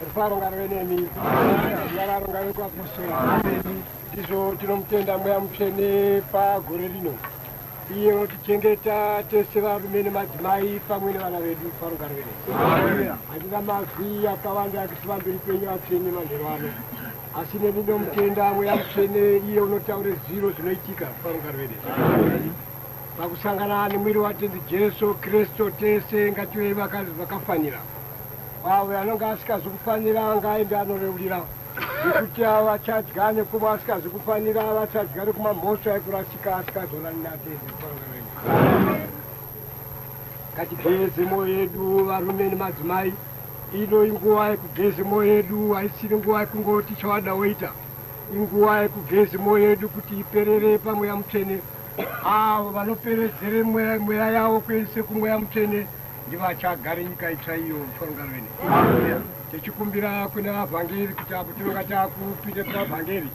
rufaro ngave nemi nyararo ngave kwapuso ndizvo tinomutenda mweya mutsvene pagore rino iye vatichengeta tese varume nemadzimai pamwe nevana vedu faro ngave nemi handina mazwi akawanda akiti vamberi penyu vatsvene manhero ano asi neni nomutenda mweya mutsvene iye unotaure zviro zvinoitika faro ngave nemi pakusangana nemwiri watenzi jesu kristu tese ngative vakafanira vaka Kwawe anonga asikazi kufanira anga aende anoreurira nekuti avachadya nekuba asikazi kufanira avachadya nekuma mhosva ekurasika asikazonani natende ngatigeze moyo yedu varume nemadzimai ino inguva yekugeze moyo yedu haisiri nguva yekungoti chawada woita inguva yekugeze moyo yedu kuti iperere pamweya mutsvene avo vanoperedzere mweya yavo kuendese kumweya mutsvene ndivo achagare nyika itsva iyo mufaro ngaro ine tichikumbira kune vavhangeri kuti apo tinonga takupinde kuna vhangeri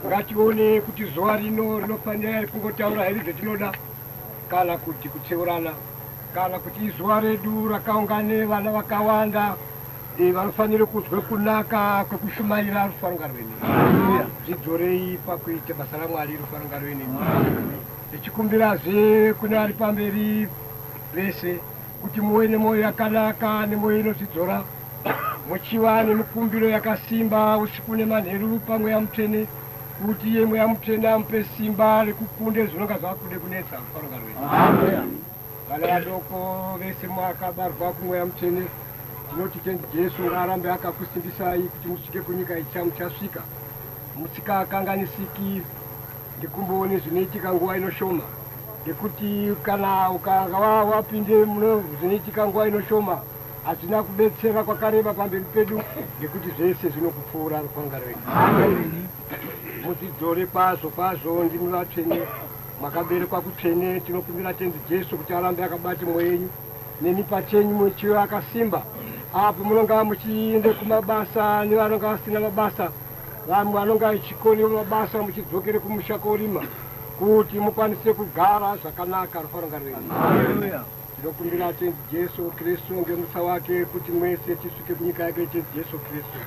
ngatione kuti zuva rino rinofanira iri kungotaura here zvetinoda kana kuti kutseurana kana kuti izuva redu rakaungane vana vakawanda eh, vanofanira kunzwe kunaka kwekushumaira rufaro ngaro ine zvidzorei pakuita basa ramwari rufaro ngaro ine tichikumbirazve kune ari pamberi vese kuti muve nemwoyo yakanaka nemwoyo inotidzora muchiva nemikumbiro yakasimba usiku nemanheru pamweya mutsvene kuti iye mweya mutsvene amupe simba rekukunde zvinonga zvakude kunetsa kufaronga rwenyu vana vadoko vese mwakabarwa kumweya mutsvene tinoti tendi jesu ngaarambe akakusimbisai kuti musvike kunyika icha muchasvika musikakanganisiki ndikumboone zvinoitika nguva inoshoma Nekuti kana ukanga wapinde muno zvinoitika nguva inoshoma hazvina kubetsera kwakareba pamberi pedu nekuti zvese zvinokupfuura rukwanga rwedu mudzidzore kwazvo kwazvo ndimi vatsvene makaberekwa kutsvene tinokumbira tenzi jesu kuti arambe akabati mwoyo yenyu nemi pachenyu muchiva akasimba apo munonga muchiende kumabasa nevanonga vasina mabasa vamwe vanonga vechikoni mabasa muchidzokere kumusha korima kuti mukwanise kugara zvakanaka rufaronga rwenyu tinokumbira tenzi jesu kristu ngemutsa wake kuti mwese tisvike kunyika yake tenzi jesu kristu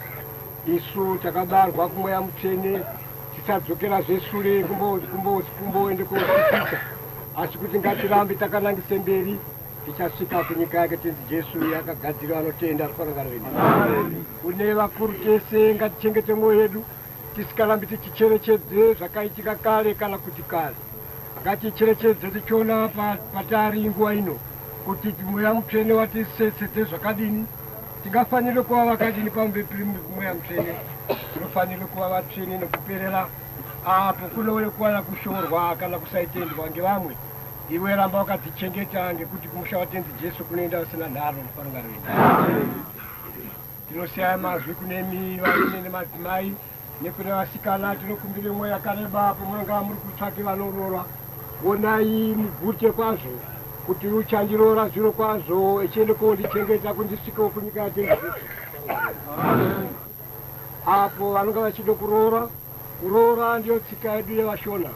isu takabarwa kumweya mutsvene tisadzokera zveshure kumboende kosikisa asi kuti ngatirambe takanangise mberi tichasvika kunyika yake tenzi jesu yakagadzirwa anotenda rufaronga rwenyu kune vakuru tese ngatichengete mwoyo yedu Tisikarambi tichicherechedze zvakaitika kare kana kuti kare, ngaticherechedze tichiona patari nguva ino kuti Mweya Mutsvene watisetsedze zvakadini. Tingafanire kuva vakadini pamuviri piri Mweya Mutsvene? Tinofanire kuva vatsvene nekuperera apo kunouye kuwana kushorwa kana kusaitendwa ngevamwe. Iwe ramba wakadzichengeta ngekuti kumusha waTenzi Jesu kunoenda usina nharo mufarungano yedu. Tinoshaya mazwi kunemi varume nemadzimai nekune vasikana tinokumbira imwe yakareba apo munonga muri kutsvaki vanoroora wonai mugute kwazvo kuti uchandiroora zviro kwazvo echiende kondichengeta kundisvikawo kunyika yatengezeso apo vanonga vachide kuroora kuroora ndiyo tsika yedu yevashona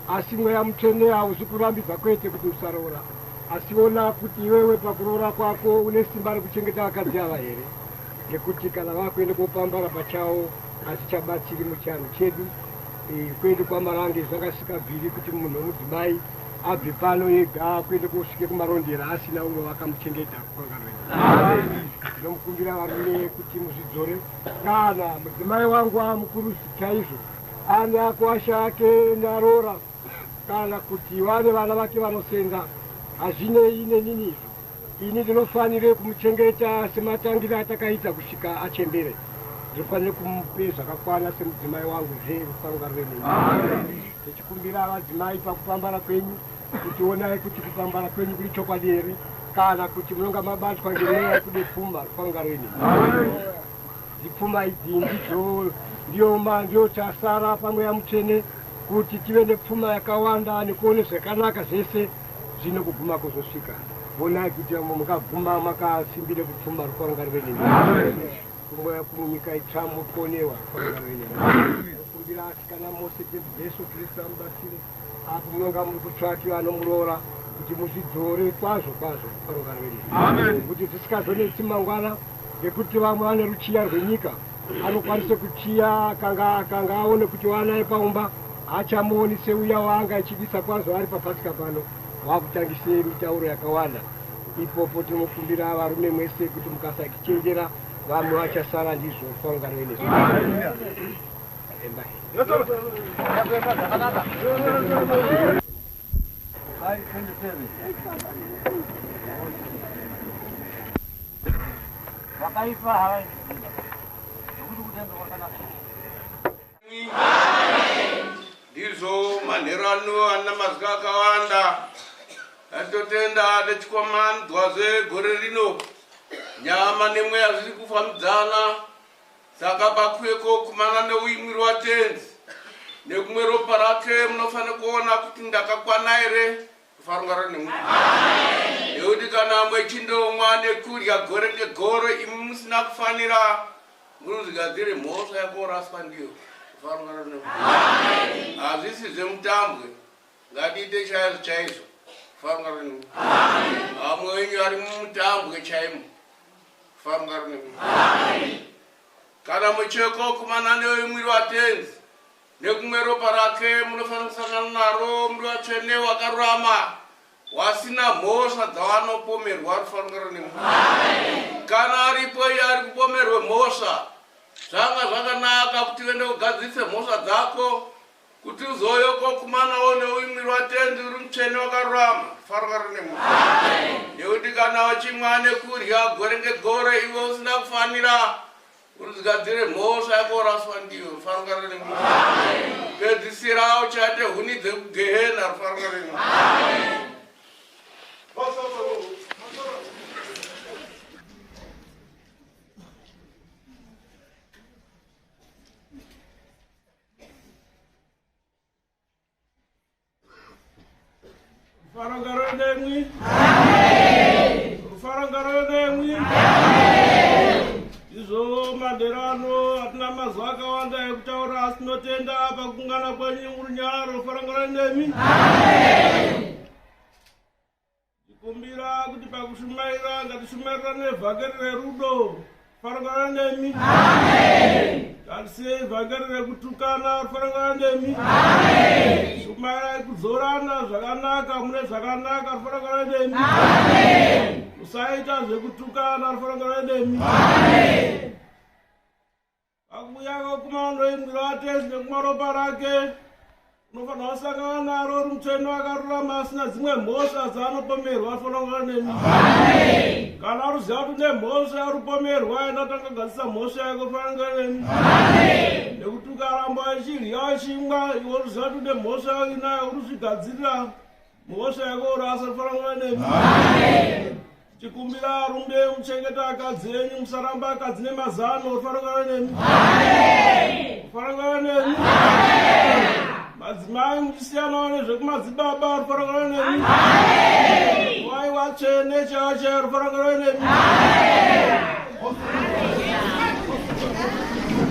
Asi mweya mutsvene hauzi kurambidza kwete kuti usaroora asi ona kuti iwewe pakuroora kwako une simba rekuchengeta vakadzi ava here nekuti kana vakuenda kopambara pachawo hatichabatsiri muchianhu chedu e, kwedu kwamarange zvakasikabviri kuti munhu wemudzimai abve pano yega kuenda kosvike kumarondera asina umwe vakamuchengeta kukangaroinomukumbira varume kuti muzvidzore kana mudzimai wangu amukuru chaizvo Ana kwasha ake ndaroora kana kuti vane vana vake vanosenga hazvinei nenini izvo. Ini ndinofanire kumuchengeta sematangire atakaita kusvika achembere. Ndinofanire kumupe zvakakwana semudzimai wangu zve rufaro ngaruve nemi. Tichikumbira vadzimai pakupambara kwenyu kuti onai kuti kupambara kwenyu kuri chokwadi here kana kuti munonga mabatwa ngemweya yekude pfuma. Rufaro ngaruve nemi. Dzipfuma idzi ndidzo ndiyoma ndiyo chasara pamweya mutsvene kuti tive nepfuma yakawanda nekuone zvakanaka zvese zvino kuguma kuzosvika vonai kuti vamwe mukaguma makasimbire kupfuma rukwarangarire nemi kumweya kumunyika itsva muponewa rukwarangarire nemi kumbira asikana mose jesu kristu amubatsire Apo munonga muri kutsvaki vanomuroora kuti muzvidzore kwazvo kwazvo paroka rwedu kuti zvisikazonetsi mangwana ngekuti vamwe vane ruchiya rwenyika anokwanisa kuchiya kanga kanga aone kuti wanaye paumba haachamuoni seuya waanga achidisa kwazvo ari papatika pano wakutangise mitauro yakawanda ipopo tinokumbira varume mwese kuti mukasakichenjera vamwe vachasara ndizvo kwaungaroenesa Wakaipa hawa. Ndugu kutenda kwa kana. Ndizo manhero ano ana mazwi akawanda atotenda techikwamandwa zvegore rino nyama nemweya zviri kufambidzana Saka pakuve kokumana neuimwiri waTenzi nekumwe ropa rake munofanira kuona kuti ndakakwana here kufarungara nemwe nekuti kana mwechindomwa nekudya gore negore imi musina kufanira munozigadzire mhosva yakoraswa ndiyo kufarungara nemwe hazvisi zvemutambwe ngatiite chaizvo chaizvo kufarungara nemwe amwe wenyu ari mumutambwe chaimo Famga rinemi. Amen. Kana mucheko kumana newe mwiri watenzi nekumwe ropa rake munofanira kusangana naro muri vatsvene wakarurama wasina mhosva dzawanopomerwa rufanira nemu kana aripo iye ari kupomerwe mhosva zvanga zvakanaka kuti vende kugadzirise mhosva dzako Kuti uzouye uko kumana uone uimwiri waTenzi uri mutsvene wakarurama, farwa rine munhu. Nekuti kana uchimwa nekudya gore ngegore iwe usina kufanira urizigadzire mhosva yako uraswa ndiyo rufarwa rine munhu. Pedzisira uchate huni dzekugehena rufarwa rine munhu. Rufaro ngaroyo nemwi. Amen. Rufaro ngaroyo nemwi. Amen. Izvo madero ano hatina mazwi akawanda ekutaura asi tinotenda pakungana kwenyu murunyaro. Rufaro ngaroyo nemwi. Amen. Ndikumbira kuti pakushumaira ngatishumaira nevhangeri rerudo farangana nemi ngatisiye ivhangeri rekutukana farangana nemi shumairai kudzorana zvakanaka mune zvakanaka farangana nemi usaita zvekutukana farangana nemi Akuyaka kumando imwiro atezi nekumaropa rake unofanira kusangana naro uri mutsvene akarurama asina dzimwe mhosva dzaanopomerwa afanangana nemi kana aruziva kuti nemhosva yarupomerwa aenda tanga gadzisa mhosva yake ufanangana nemi nekuti ukaramba achidya achimwa iwe uruziva kuti nemhosva yake inayo uruzvigadzirira Mhosva yako uri asafana nguva nemi. Amen. Tikumbira arumbe muchengeta akadzi enyu musaramba akadzi nemazano uri fana nguva nemi. Amen. Fana nguva nemi. Amen. Madzimai muchisiyana wane zvekumadzibaba uri fana nguva nemi. Amen. Wai watsvene chache uri fana nguva nemi. Amen.